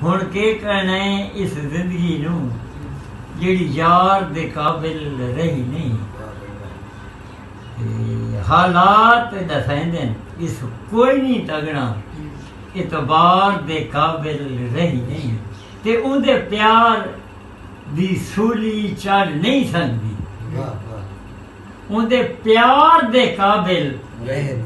ہݨ کے کہݨا ہے اس زندگی نوں جیڑھی یار دے قابل رہی نہیں حالات ڈسائیں اس کوئی نہیں تگنا اعتبار دے قابل رہی نہیں تے ان دے پیار دی سولی چڑھ نہیں سکتی ان دے پیار دے قابل رہی نہیں